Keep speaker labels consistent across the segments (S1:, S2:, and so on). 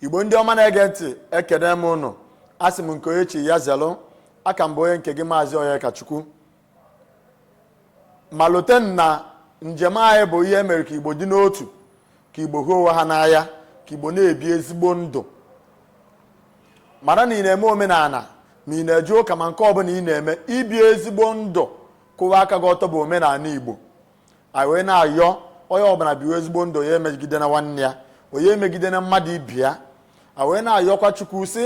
S1: igbo ndị ọma na-ege ntị ekene m ụnụ asị m nke onye chi ya zelụ a ka m bụ onye nke gị maazị onyekachukwu ma lote na njem anyị bụ ihe mere ka igbo dị n'otu ka igbo hụ onwe ha n'anya ka igbo na-ebi ezigbo ndụ mara na ị na-eme omenala ma ị na-eje ụka ma nke ọbụla ị na-eme ibi ezigbo ndụ kwụwa aka gị ọtọ bụ omenala igbo anyị wee na-ayọ onye ọbụla biwe ezigbo ndụ ya emegidena nwanne ya onye emegidena mmadụ ibe ya a wee na-ayọkwa chukwu sị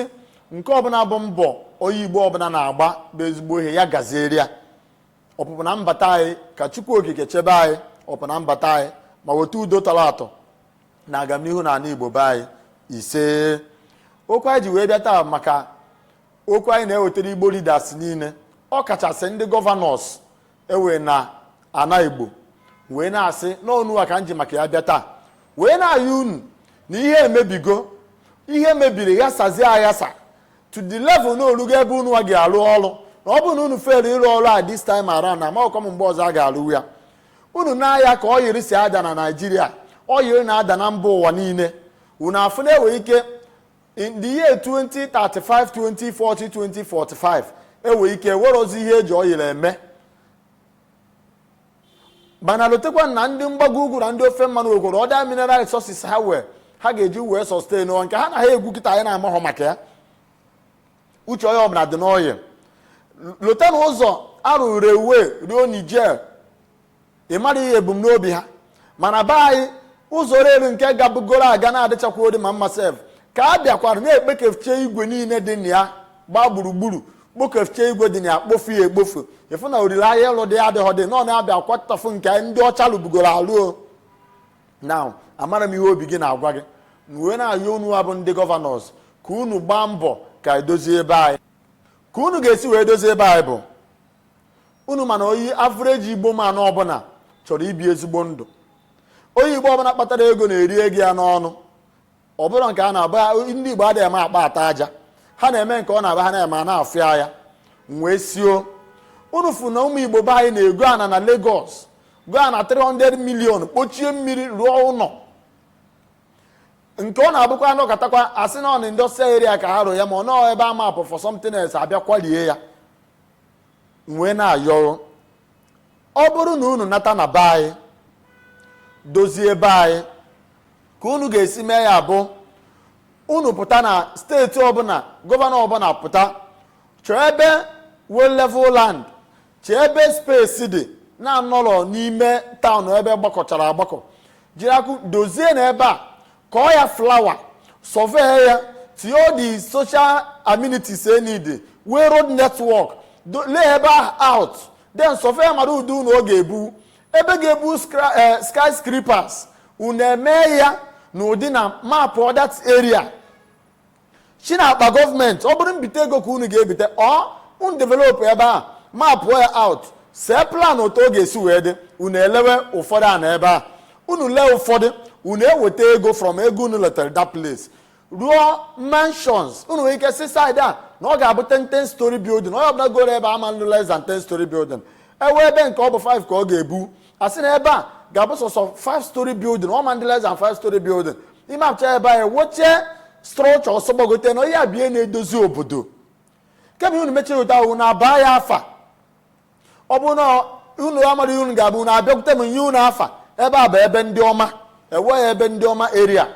S1: nke ọbụla bụ mbọ onye igbo ọbụla na-agba bụ ezigbo ihe ya gaziere ya ọpụpụ na mbata anyị ka chukwu okike chebe anyị ọpụpụ na mbata anyị ma weta udo tọrọ atọ na agamnihu na ala igbo be anyị ise okwu anyị ji wee bịa taa maka okwu anyị na-ewetara igbo leaders niile ọ kachasị ndị gọvanọs e nwe na ana igbo wee na-asị na ọ unu a ka m ji maka ya bịa taa wee na-ayọ unu na ihe emebigo ihe mebiri ghasazie aghasa to the level na o rugo ebe unu a ga-arụ ọrụ na ọ bụrụ na unu fere ịrụ ọrụ a this time around na amaghịkwa m mgbe ọzọ a ga-arụ ya unu na-aya ka oil si ada na naijiria oil na-ada na mba ụwa niile unu afụ na e nwe ike in the year 2035 2040 2045 enwere ike nwerozi ihe eji oil eme mana lotekwa na ndị mgbago ugwu na ndị ofe mmanụ nwekwara other mineral resources ha nwee ha ga-eji wee sustain nke ha na ha egwu kịta anyị na-amaghọ maka ya uche onye ọbụla dị na oil lota na ụzọ a rụrụ railway ruo niger ị mara ihe ebumnobi ha mana be anyị ụzọ rail nke gabugoro aga na-adịchakwa odi ma mma sef ka a bịakwara na-ekpekefchie igwe niile dị na ya gbaa gburugburu kpokefchie igwe dị na ya kpofu ya ekpofu ịfụ na olileanya ịlụ dị adịghọ dị nọ na-abịa kwatafụ nke ndị ọcha lụbugoro alụ na amara m ihe obi gị na-agwa gị m wee na-ayọ unu a bụ ndị gọvanọs ka unu gbaa mbọ ka edozie ebe anyị ka unu ga-esi wee dozie ebe anyị bụ unu ma na onye average igbo man ọbụla chọrọ ibi ezigbo ndụ onye igbo ọbụla kpatara ego na-eri ego ya n'ọnụ ọbụla nke a na-aba ndị igbo adịghị eme akpa ata aja ha na-eme nke ọ na-aba ha na-eme a na-afụ ya ya wee sị o unu fụ na ụmụ igbo be anyị na-ego ana na Lagos go ana 300 million kpochie mmiri rụọ ụlọ nke ọ na-abụkwa a nọkatakwa a sị na ọ na industrial area ka ha rụ ya ma ọ nọọ ebe a mapụ for something else a bịa kwalie ya wee na-ayọ o ọ bụrụ na unu nata na be anyị dozie be anyị ka unu ga-esi mee ya bụ unu pụta na steeti ọbụla gọvanọ ọbụla pụta chọọ ebe nwe level land chọọ ebe space dị na anọrọ n'ime town ebe gbakọchara agbakọ jiri akụ dozie na ebe a kọọ ya flower survey ya tinye all the social amenities e need wee road network do- lee ebe ahụ out then survey mara ụdị ụnọ ọ ga-ebu ebe ga-ebu skra- eh, skyscrapers unu emee ya na ụdị na mapụ that area si na akpa gọọmenti ọ bụrụ mbite ego ka unu ga-ebite or unu develop ebe a mapụ ya out see plan otu ọ ga-esi wee dị unu elewe ụfọdụ ana ebe a unu lee ụfọdụ unu eweta ego from ego unu letara that place rụọ mansions unu nwere ike sị side a na ọ ga-abụ 10 story building onye ọbụla goro ebe a ma nlụ less than 10 story building ewe ebe nke ọ bụ 5 ka ọ ga-ebu a sị na ebe a ga-abụ sọsọ 5 story building ọ ma ndị less than 5 story building ị mapụcha ebe anyị wochie structure ọsọ gbagote na onye abịa na-edozi obodo kemgbe unu mechiri ụta ahụ na abaa ya afa ọ bụ na unu amara unu ga-abụ na abịakwute m nye unu afa ebe a bụ ebe ndị ọma enwe ebe ndị ọma area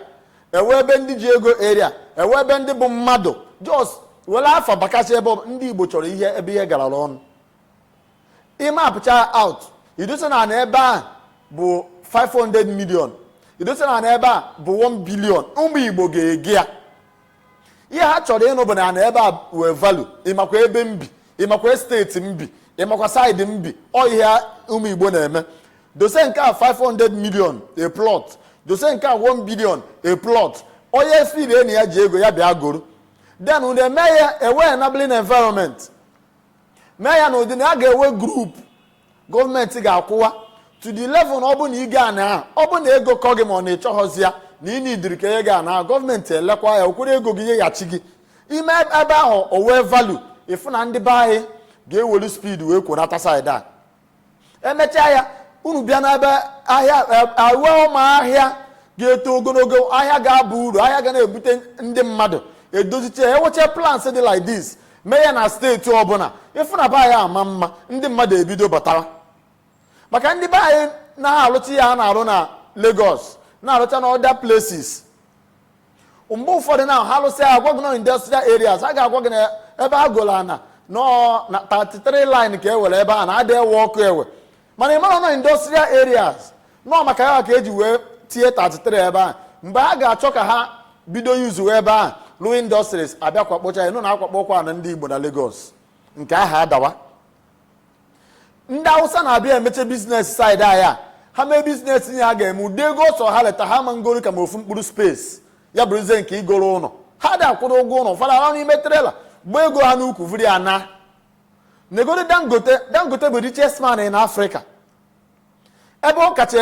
S1: enwe ebe ndị ji ego area enwe ebe ndị bụ mmadụ just were afa bakasị ebe ọ bụ- ndị igbo chọrọ ihe ebe ihe garara ọnụ ịmapụcha ya out idosa na ana ebe a bụ 500 million idosa na ana ebe a bụ 1 billion ụmụ igbo ga-ego ya ihe ha chọrọ ịnụ bụ na ana ebe a wee value ịmakwa ebe m bi ịmakwa estate m bi ịmakwa side m bi ọ ihe ụmụ igbo na-eme dose nke a 500 million a plot dose nke a 1 billion a plot onye feel na ya ji ego ya bịa goro then unu emee ya enwe enabling environment mee ya na ụdị na a ga-enwe group gọọmenti ga-akwụwa to the level na ọ bụ na ị go ana ọ bụ na ego kọ gị ma ọ na ị chọghọzi ya na ị needịrị ka ihe ga na gọọmenti elekwa ya o kworo ego gị nyeghachi gị i mee ebe ahụ o wee value ịfụ na ndị be anyị ga-ewelu speed wee kworata side a emechaa ya unu bịa n'ebe ahịa awa ụma ahịa ga-eto ogologo ahịa ga-aba uru ahịa ga na-ebute ndị mmadụ edozicha ewecha plans dị like this mee ya na steeti ọbụla ịfụ na be anyị ama mma ndị mmadụ ebido batara maka ndị be anyị na-alụcha ihe ha na-arụ na Lagos na-alụcha na other places mgbe ụfọdụ na ha lụsịa agwa gị na industrial areas ha ga-agwa gị na ebe ha golu ana nọ na 33 line ka e were ebe a na adị ewe ọkụ ewe mana ị mara na ọ industrial areas na ọ maka ya ka eji wee tie 33 ebe a mgbe ha ga-achọ ka ha bido usewe ebe a lụọ industries abịa kwakpocha ya nụ na akwakpọkwa ụnọ ndị Igbo na Lagos nke ha adawa ndị awụsa na-abịa emeche business side anyị a ha mee business ihe ha ga-eme ụdị ego ọ sọ ha leta ha ma ngoro ka ma ofu mkpụrụ space ya bụrụzie nke igoro ụlọ ha dị akwụrụ ụgwọ ụlọ ha arahụ n'ime trailer gba ego ha n'ukwu vuru ya naa negodu dangote dangote bụ richest man na afrịka ebe ọ kacha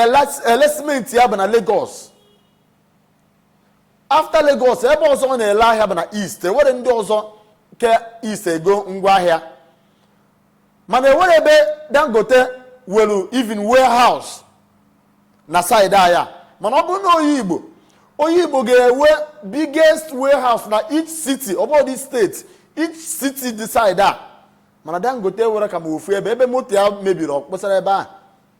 S1: ele simenti ya bụ na Lagos after Lagos ebe ọzọ ọ na-ele ahịa bụ na East enwere ndị ọzọ ke East ego ngwa ahịa mana enwere ebe Dangote welu even warehouse na side anyị mana ọ bụrụ na onye Igbo onye Igbo ga-enwe biggest warehouse na each city ọ bụghị state each city dị side a mana Dangote enwere ka ma ofu ebe ebe moto ya mebiri ọ kpụsara ebe a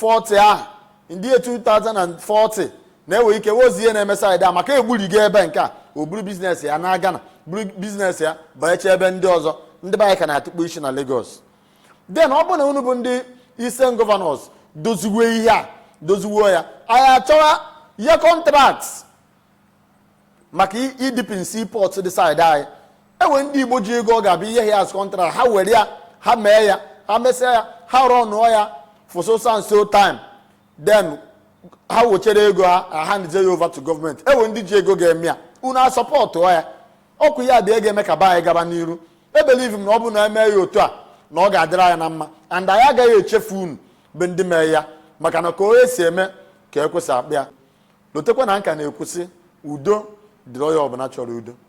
S1: 40 ahụ ndị 2040 na-enwe ike wozi ihe na-eme side a maka egburigo ebe nke a o buru business ya na Ghana buru business ya banyecha ebe ndị ọzọ ndị be anyị ka na-atụkpu isi na Lagos then ọ bụrụ na unu bụ ndị Eastern governors doziwe ihe a doziwe ya anyị achọwa ihe contract maka ideepen seaport dị side anyị enwe ndị Igbo ji ego ọ ga-abịa enye ya as contract ha were ya ha mee ya ha mesịa ya ha runụọ ya for so and so time then ha wechere ego ha ha handịa ya over to government enwe ndị ji ego ga-eme ya unu asupportụọ ya ọkwa ihe ndị a ga-eme ka be anyị gaba n'iru ebelieve m na ọ bụ na eme ya otu a na ọ ga-adịrị anyị na mma and anyị agaghị echefu unu bụ ndị mee ya maka na ka onye si eme ka ekwesị akpa ya Lotekwa na nka na-ekwu sị, Udo dịrị onye ọbụla chọrọ udo.